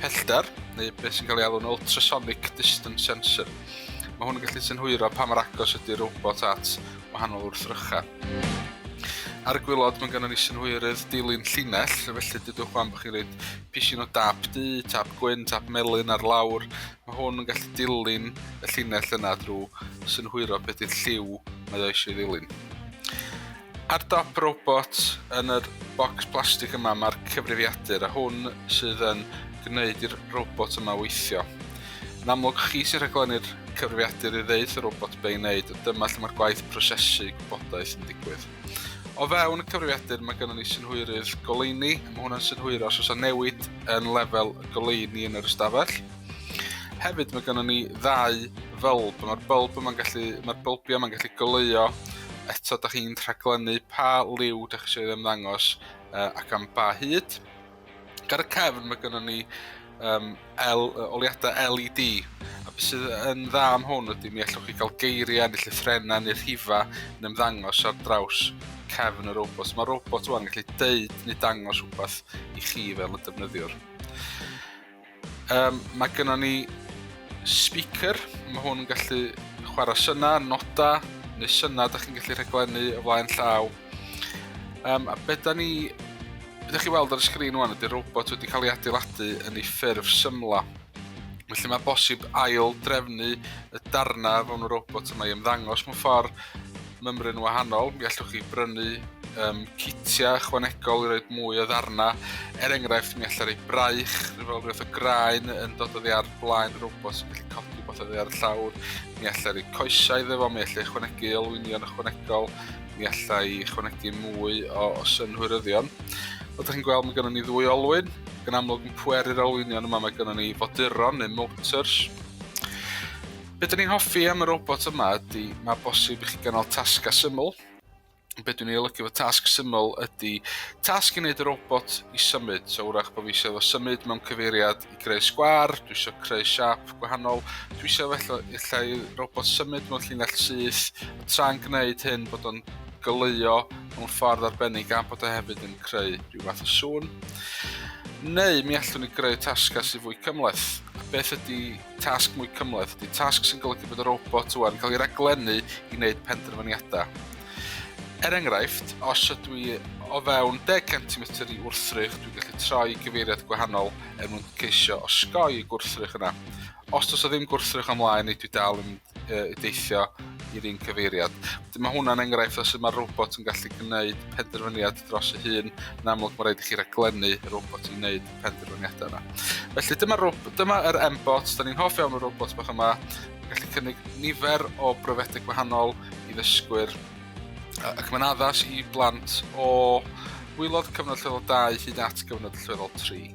pellter, neu beth sy'n cael ei alw'n ultrasonic distance sensor. Mae hwn yn gallu synhwyro pa mor agos ydy'r robot at wahanol wrthrychau. Ar y gwylod mae'n gynnu ni synhwyrydd dilyn llinell, felly dydwch fan bod chi'n rhaid pisin o dap du, tap gwyn, tap melyn ar lawr. Mae hwn yn gallu dilyn y llinell yna drwy synhwyro beth i'r lliw mae o eisiau ddilyn. Ar dop robot yn yr bocs plastig yma mae'r cyfrifiadur a hwn sydd yn gwneud i'r robot yma weithio. Yn amlwg chi sy'n rhaglennu'r cyfrifiadur i ddeud y robot be i wneud, dyma lle mae'r gwaith prosesu gwybodaeth yn digwydd. O fewn y cyfrifiadur mae gennym ni synhwyrydd goleuni, mae hwnna'n synhwyro os oes yna newid yn lefel y goleuni yn yr ystafell. Hefyd mae gennym ni ddau fylb, mae'r bylb yma'n gallu, mae'r bylbiau yma'n gallu goleuo, eto da chi'n rhaglennu pa liw da chi eisiau ddim ddangos uh, ac am ba hyd. Gar y cefn mae gennym ni um, L, oliadau LED, a beth sydd yn dda am hwn ydy mi allwch chi gael geiriau neu llythrenau neu rhifa yn ymddangos ar draws cefn y robot. Mae robot yma'n gallu deud neu dangos rhywbeth i chi fel y defnyddiwr. Um, mae gennym ni speaker, mae hwn yn gallu chwarae syna, noda, neu syna, da chi'n gallu rhaglennu o flaen llaw. Um, a beth da ni... Beth da chi weld ar y sgrin wan ydy'r robot wedi cael ei adeiladu yn ei ffurf symla. Felly mae bosib ail drefnu y darnau fewn y robot yma i ymddangos mewn ffordd mymryn wahanol, mi allwch chi brynu um, citiau chwanegol i roed mwy o ddarna. Er enghraifft, mi allai rei braich, rhyw fel rhywbeth o graen yn dod oddi ar blaen yr robot sy'n gallu codi rhywbeth oddi ar y llawr. Mi allai rei coesau iddo fo, mi allai chwanegu olwynion ychwanegol, mi allai chwanegu mwy o, o synhwyryddion. Fel ydych chi'n gweld, mae gennym ni ddwy olwyn. Gan amlwg yn pweru'r olwynion yma, mae gennym ni foduron neu motors. Be dyn ni'n hoffi am y robot yma ydy mae bosib i chi gynnal tasgau syml. Be dwi'n ei olygu fo tasg syml ydy tasg i wneud y robot i symud. So wrach bod fi eisiau fo symud mewn cyfeiriad i greu sgwar, dwi eisiau creu siap gwahanol, dwi eisiau felly illa i robot symud mewn llinell syth, a tra'n gwneud hyn bod o'n goleuo mewn ffordd arbennig gan bod o hefyd yn creu rhyw fath o sŵn. Neu mi allwn ni greu tasgau sydd fwy cymleth. Beth ydy tasg mwy cymhleth ydy tasg sy'n golygu bod y robot yw yn cael ei raglennu i wneud penderfyniadau. Er enghraifft, os ydw i o fewn 10 cm i wrthrych, dwi'n gallu troi gyfeiriad gwahanol er mwyn ceisio osgoi y gwrthrych yna. Os does o ddim gwrthrych ymlaen, neu dwi dal yn uh, deithio i'r un cyfeiriad. Dyma hwnna'n enghraifft o sut mae'r robot yn gallu gwneud penderfyniad dros ei hun, yn amlwg mae rhaid i chi raglennu y robot i wneud penderfyniadau yna. Felly dyma, dyma yr M-bot, da ni'n hoff iawn o'r robot bach yma, gallu cynnig nifer o brofedau gwahanol i ddysgwyr Ac mae'n addas i blant o wylod cyfnod lleol 2 hyd at gyfnod lleol 3.